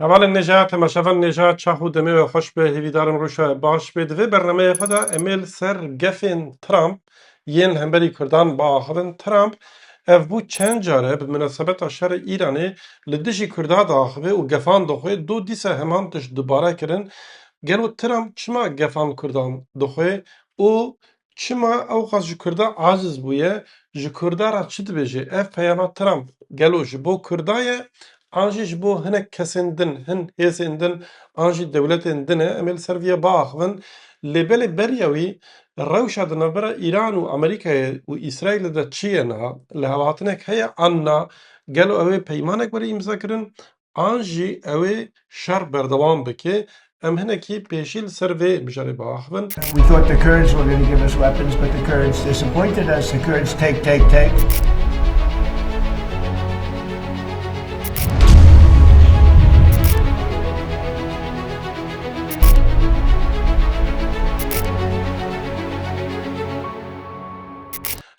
Hevalên Nêja, Temaşevan Nêja, çax û demê we xweş be, hêvîdarim rûşa we baş bê. Di vê bernameya xwe de em ê li ser gefên Trump yên li hemberî Kurdan biaxivin. Trump ev bû çend care bi minasebeta şerê Îranê li dijî Kurda diaxive û gefan dixwe, do dîsa heman tişt dubare kirin. Gelo Trump çima gefan Kurdan dixwe û Çima ewqas ji Kurda aciz bûye? Ji Kurda re çi dibêje? Ev peyama Trump gelo ji bo Kurda ye an jî ji bo hinek kesên din, hin hêzên din an jî dewletên din e? Em ê li ser vê ya biaxivin. Lê belê beriya wî rewşa di navbera Îran û Amerîkayê û Îsraîlê de çi ye niha? Lihevhatinek heye an na? Gelo ew ê peymanek were îmzakirin an jî ew ê şer berdewam bike, em hinekî pêşî li ser vê mijarê biaxivin.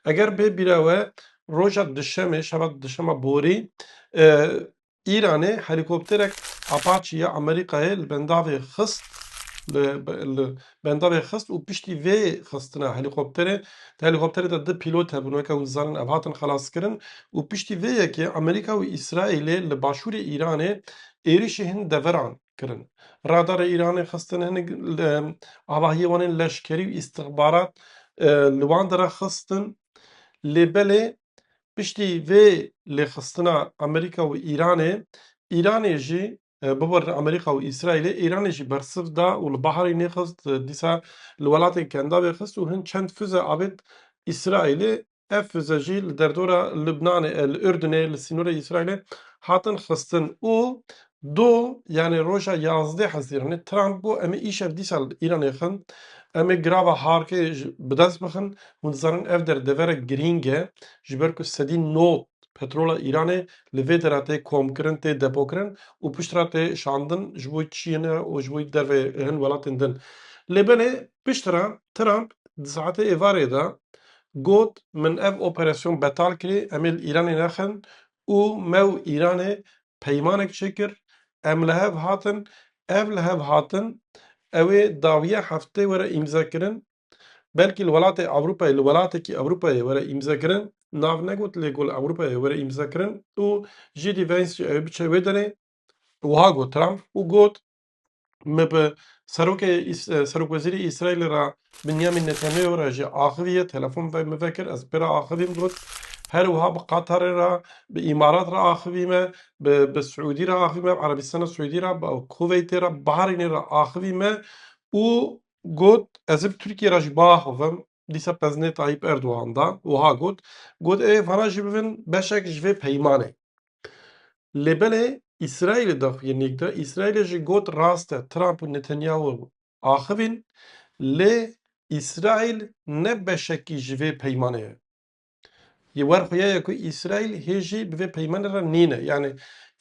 Eger bê bîra we Roja Duşemê, şeva Duşema borî, Îranê helîkopterek Apache ya Amerîkayê li bendavê xist li bendavê xist û piştî vê xistina helîkopterê di helîkopterê de du pîlot hebûn weke hûn dizanin ev hatin xelaskirin û piştî vê yekê Amerîka û Îsraîlê li başûrê Îranê êrişî hin deveran. kirin. Radarê Îranê xistin hinek li avahiyê wan ên leşkerî û îstixbarat li wan de re xistin. Lê belê piştî vê lêxistina Amerîka û Îranê, Îranê jî biborîne Amerîka û Îsraîlê, Îranê jî bersiv da û li baharê nêxist dîsa li welatên Kendavê xist û hin çend fize avêt Îsraîlê Ev fize jî li derdora Libnanê, li Urdunê, li sînorê Îsraîlê hatin xistin û do yanê roja yazdeh Hezîranê Trump got em ê îşev dîsa li Îranê xin, em ê grava Harkê ji bi dest bixin. Hûn dizanin ev der deverek girîng e ji ber ku sedî not petrola Îranê li vê dera tê komkirin, tê depokirin û piştre tê şandin ji bo Çînê û ji bo derveyê hin welatên din. Lê belê Piştre Trump di saetê êvarê de got, Min ev operasyon betal kirî, em ê li Îranê nexin û me û Îranê peymanek çêkir, em li hev hatin, ev li hev hatin ew ê dawiya heftê were îmzekirin, belkî li welatê Ewropayê li welatekî Ewropayê were îmzekirin, nav negot lê got li Ewropayê were îmzekirin û JD Vance jî ew ê biçe wê derê. Wiha got Trump û got, Me bi serokê serokwezîrê Îsraîlê re Binyamîn Netanyahu re jî axiviye telefon ve min vekir ez pê re axivîm got her wiha bi Qatarê re bi Îmarat re axivîme bi bi Siûdî re axivîme bi Erebîstana Siûdî re bi Kuveytê re Bahrînê re axivîme û got ez ê bi Tirkiyê re jî biaxivim dîsa pezinê Tayyîp Erdogan da wiha got got ê vana jî bibin beşek ji vê peymanê. Lê belê Îsraîlê daxuyên nêk de Îsraîlê jî got rast e Trump û Netanyahu axivîn lê Îsraîl ne beşekî ji vê peymanê ye. Ji wer xwe ye ku Îsraîl hê jî bi vê peymanê re nîne yanî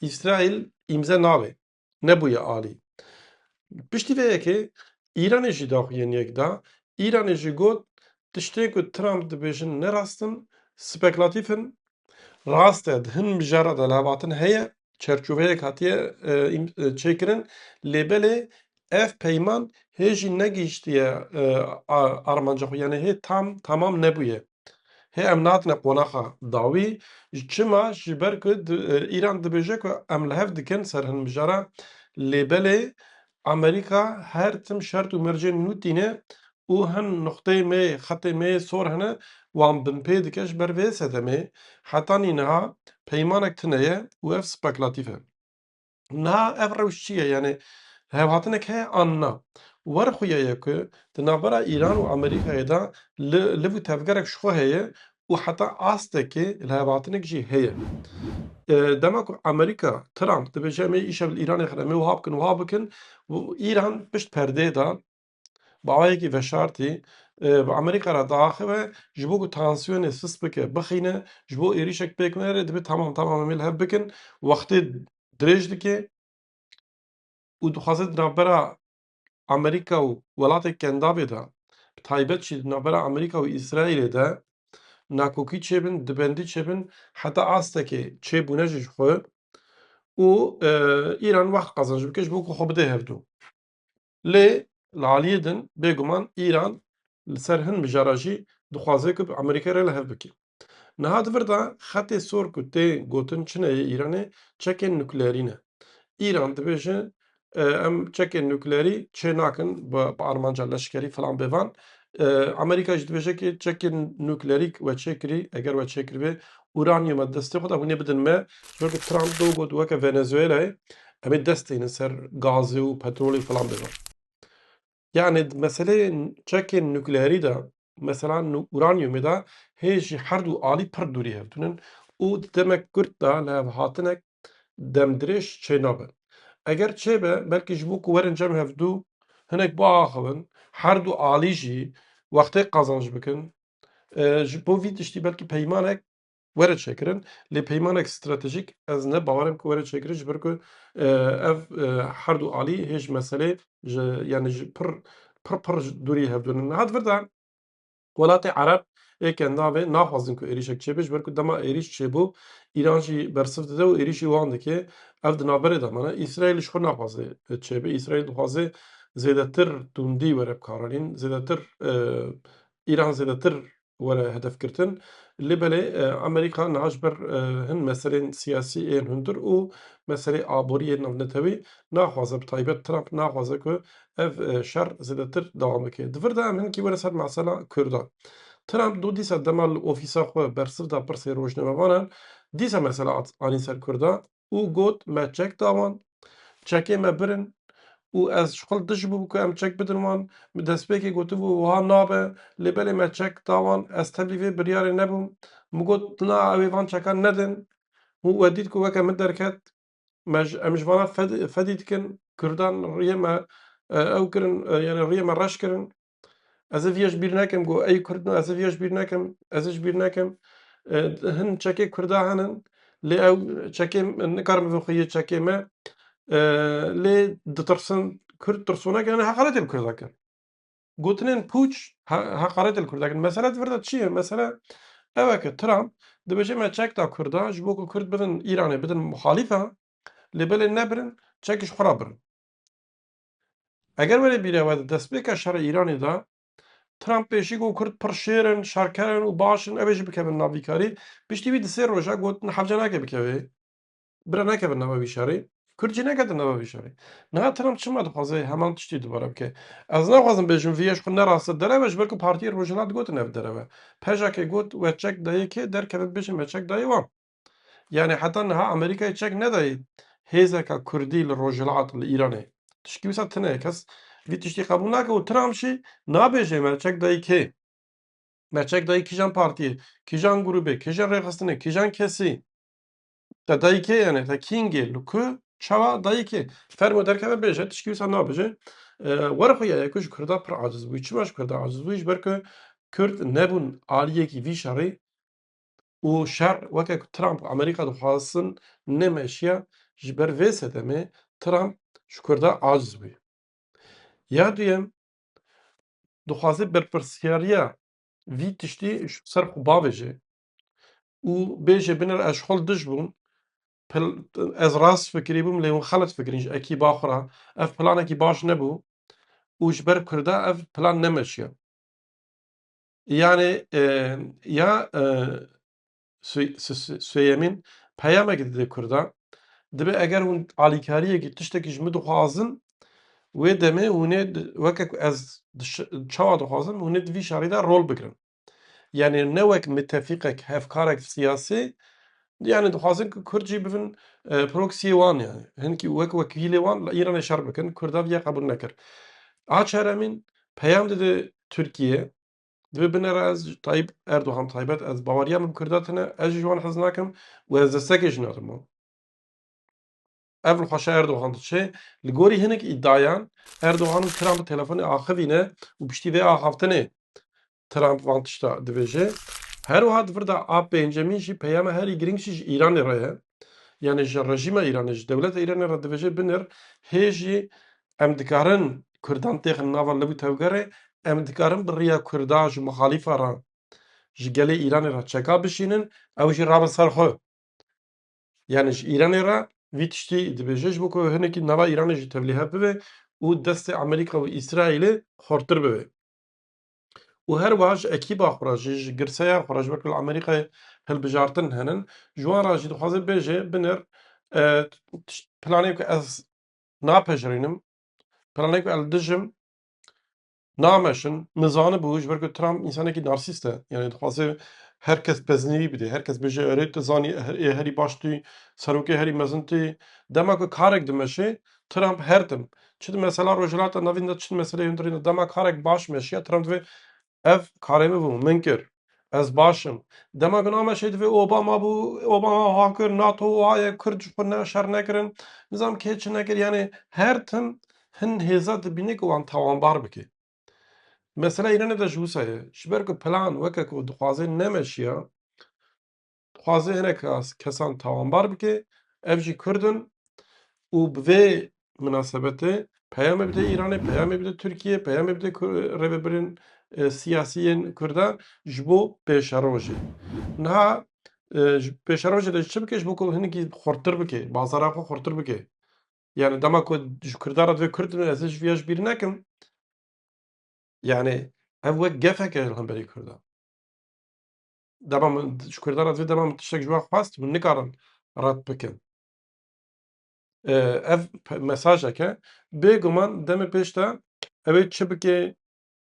Îsraîl îmze nabê. Nebûye alî. Piştî vê yekê Îranê jî daxuyên yek da. Îranê jî got, Tiştên ku Trump dibêjin ne rast in, spekilatîf in. Rast e di hin mijara de lavatin heye, çerçoveyek hatiye çêkirin lê belê ev peyman hê jî negihîştiye armanca xwe. Yanî hê tam tamam nebûye. Hê em nehatine qonaxa dawî çima ji ber ku Îran dibêje ku em li hev dikin ser hin mijara lê belê Amerîka her tim şert û mercên nû tîne û hin nuqteyê me yê xetê me yê sor hene wan binpê dike ji ber vê sedemê heta nî niha peymanek tune ye û ev spekilatîf e. Niha ev rewş çi ye? Yanî hevhatinek heye an na? War xuya ye ku di navbera Îran û Amerîkayê de li liv û tevgerek ji xwe heye û heta astekê li hevhatinek jî heye. Dema ku Amerîka, Trump dibêje em ê îşev li Îranê xêne em ê wiha bikin wiha bikin, Îran pişt perdeyê de Bawayekî veşartî bi Amerîka re diaxive ji bo ku tansiyonê sist bike, bixîne ji bo êrîşek pêk nere divê tamam tamam em ê li hev bikin wextê dirêj dike û dixwaze di navbera Amerîka û welatên kendavê de bi taybet jî di navbera Amerîka û Îsraîlê de nakokî çêbin, dibendî çêbin heta astekê çêbûne jî ji xwe û Îran wext qezenc bike ji bo ku xwe bide hevdu. Lê li aliyê din bêguman Îran li ser hin mijaran jî dixwaze ku bi Amerîkayê re li hev bike. Niha di vir de xetê sor ku tê gotin çi ne yê Îranê çekên nukleerî ne. Îran dibêje em çekên nukleerî çê nakin bi armanca leşkerî filan bêvan. Amerîka jî dibêje ku çekên nukleerî we çê kirî eger we çê kiribê uranyuma di destê xwe de hûn ê bidin me. Ji ber ku Trump do got weke Venezuelayê Em ê dest têne ser gazê û petrolê filan bibin. Yanê di meseleyê çekên nukleerî de mesela uranyumê de hê jî her du alî pir dûrî hev tune û di demek kurt de li hev hatinek demdirêj çênabe. Eger çêbe belkî ji bo ku werin cem hev du hinek biaxivin her du alî jî wextê qazanc bikin ji bo vî tiştî belkî peymanek Were çêkirin lê peymanek stratejîk ez ne bawerem ku were çêkirin ji ber ku ev her du alî hê ji meselê ji yanî ji pir pir pir dûrî hevdû ne. Niha di vir de welatê ereb ê ke navê naxwazin ku êrîşek çêbe ji ber ku dema êrîş çêbû Îran jî bersiv dide û êrîşî wan dike ev di navberê de mane. Îsraîl ji xwe naxwaze çêbe. Îsraîl dixwaze zêdetir tundî were bi karanîn zêdetir Îran zêdetir were hedefgirtin. Lê belê Amerîka niha ji ber hin meselên siyasî ên hundir û meselê aborî ên navnetewî naxwaze bi taybet Trump naxwaze ku ev şer zêdetir dewam bike. Di vir de em hinkî were ser mesela Kurdan. Trump do dîsa dema li ofîsa xwe bersiv da pirsên rojnamevanan dîsa mesela anî ser Kurdan. û got, Me çek da wan, çekê me birin û ez ji xwe dijibûm ku em çek bidin wan. Min destpêkê gotibû wiha nabe, lê belê me çek da wan. Ez teblî vê biryarê nebûm. Min got, Na, ew ê van çekan nedin. Hûn we dît ku weke min derket. Me ji em ji vana fedî dikin. Kurdan riyê me ew kirin, yanî riyê me reş kirin. Ez ê vê yê ji bîr nekim ku ey Kurd in, ez ê vê yê ji bîr nekim, ez ê ji bîr nekim. Hin çekê Kurda hene lê ew çekê nikarin bibin xweyî çekê me lê ditirsin. Kurd tirsonek e, heqaretê li Kurda kir. Gotinên pûç heqaretê li Kurda kir. Mesele di vir de çi ye? Mesele ew e ku Trump dibêje me çek da Kurdan ji bo ku Kurd bidin Îranê, bidin muhalîfe lê belê nebirin çekî ji xwe re birin. Eger were bîra we di destpêka şerê Îranê de Trump pê jî got kurd pir şêr in, şerker in û baş in ew ê jî bikevin nav vî karî, piştî wî di sê roja got niha hevce nake bikeve. Bira nekevin nava vî şerê. Kurd jî neketin nava vî şerê. Niha Trump çima dixwaze heman tiştî dubare bike? Ez naxwazim bêjim vî yê ji xwe ne rast e dereve ji ber ku Partiyên Rojhilat gotin ev dereve. Pejakê got we çek dayê kê derkeve bibêje me çek dayê wan. Yanî heta niha Amerîkayê çek nedayê hêzeka kurdî li rojhilat li Îranê tişkî wisa tune ye. Kes vî tiştî qebûl nake û Trump jî nabêje me çek dayî kê? Me çek dayî kîjan partiyê, kîjan grûbê, kîjan rêxistinê, kîjan kesî? Te dayî kê yanê? Te kîngê? Li ku? Çawa dayî kê? Fermo derkeve bêje tişkî wisa nabêje. Were xwe ya ye ku ji Kurda pir aciz bûyî. Çima ji Kurda aciz bûyî? Ji ber ku Kurd nebûn aliyekî vî şerî û şer weke ku Trump û Amerîka dixwazin nemeşiya ji ber vê sedemê Trump ji Kurda aciz bûye. Ya duyem dixwaze berpirsyariya vî tiştî ji ser xwe bavêje û bêje binêre ez ji xwe li dij bûm, ez rast fikirî bûm lê hûn xelet fikirîn ji ekîba xwe re, ev planekî baş nebû û ji ber Kurda ev plan nemeşiya. Yanê ya Swêyemîn peyamekê dide Kurdan. Dibe eger hûn alîkariyekî tiştekî ji min dixwazin wê demê hûnê weke ku ez çawa dixwazim hûnê di vî şerî de rol bigirin. Yanê ne wek mitefîqek hevkarek siyasî yanê dixwazin ku Kurd jî bibin proksiyê wan yanê hinkî wek wekîlê wan li Îranê şer bikin Kurda vî ya qebûl nekir. A çeremîn Peyam dide Tirkiyê, Divê bine re ez ji Tayyîp Erdogan taybet ez baweriya min bi Kurda tune, ez jî ji wan hez nakim û ez destekê jî nadim wan. Ev li xweşa Erdogan diçe. Li gorî hinek îdiayan Erdogan û Trump telefonê axivîne û piştî vê axaftinê Trump van tişta dibêje. Her wiha di vir de a pêncemîn jî peyama herî girîng jî ji Îranê re ye. Yanî ji rejîma Îranê, ji dewleta Îranê re dibêje binir hê jî em dikarin kurdan têxin nava li û tevgerê, em dikarin bi riya kurda ji muxalîfa re ji gelê Îranê re çeka bişînin, ew jî rabin ser xwe. Yanî ji Îranê re vî tiştî dibêje ji bo ku hinekî nava Îranê jî tevlîhev bibe û destê Amerîka û Îsraîlê xurtir bibe. û her wiha ji ekîba xwe re jî ji girseya xwe re ji wek li Amerîkayê hilbijartin henin ji wan re jî dixwaze bêje binir planê ku ez napejirînim planê ku ez dij im nameşin min zanibû ji ber ku Trump însanekî narsîst e yanî dixwaze her kes pezinîvî bidê her kes bêje erê tu zanî ê herî baş tûyî serokê herî mezin tûyî dema ku karek dimeşê Trump her tim çi di mesela Rojhilata Navîn de çi di meseleyê hundirîn de dema karek baş meşiya Trump divê ev karê min bû min kir ez baş im. Dema ku nameşê divê Obama bû Obama wiha kir NATO wiha ye Kurd ji xwe ne şer nekirin nizam kê çi nekir yanê her tim hin hêza dibîne ku wan tawanbar bike. Mesela Îranê de ji wisa ye ji ber ku plan weke ku dixwaze nemeşiya dixwaze hinek kesan tawanbar bike ev jî Kurd in û bi vê minasebetê peyamê bide Îranê, peyamê bide Tirkiyeyê, peyamê bide rêvebirên siyasî yên Kurdan ji bo pêşerojê. Niha pêşerojê de çi bike ji bo ku hinekî xurttir bike, bazara xwe xurttir bike. Yani dema ku ji Kurdan re divê Kurd bin ez ji vê ji bîr nekim. Yani ev wek gefek e li hemberî Kurdan. Dema min ji Kurdan re divê dema min tiştek ji wan xwest hûn nikarin red bikin. Ev mesajek e bêguman demê pêş de ew ê çi bike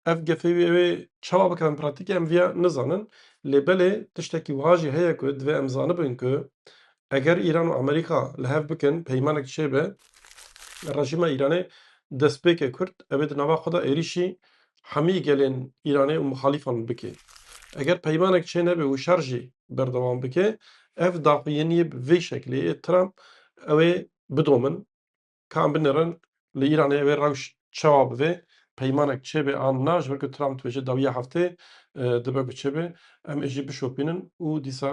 ev gefê wî ew ê çawa bikevin pratîkê em vîya nizanin lê belê tiştekî wiha jî heye ku divê em zanibin ku eger Îran û Amerîka li hev bikin peymanek çêbe rejîma Îranê destpêkê kurt ew ê di nava xwe de êrîşî hemî gelên Îranê û muhalîfan bike. Eger peymanek çênebe û şer jî berdewam bike, ev daxuyaniyê bi vê şeklê yê Trump ew ê bidomin ka em binirin li Îranê ew ê rewş çawa bibe, peymanek çêbe an na, ji ber ku Trump dibêje dawiya heftê dibe ku çêbe, em ê jî bişopînin û dîsa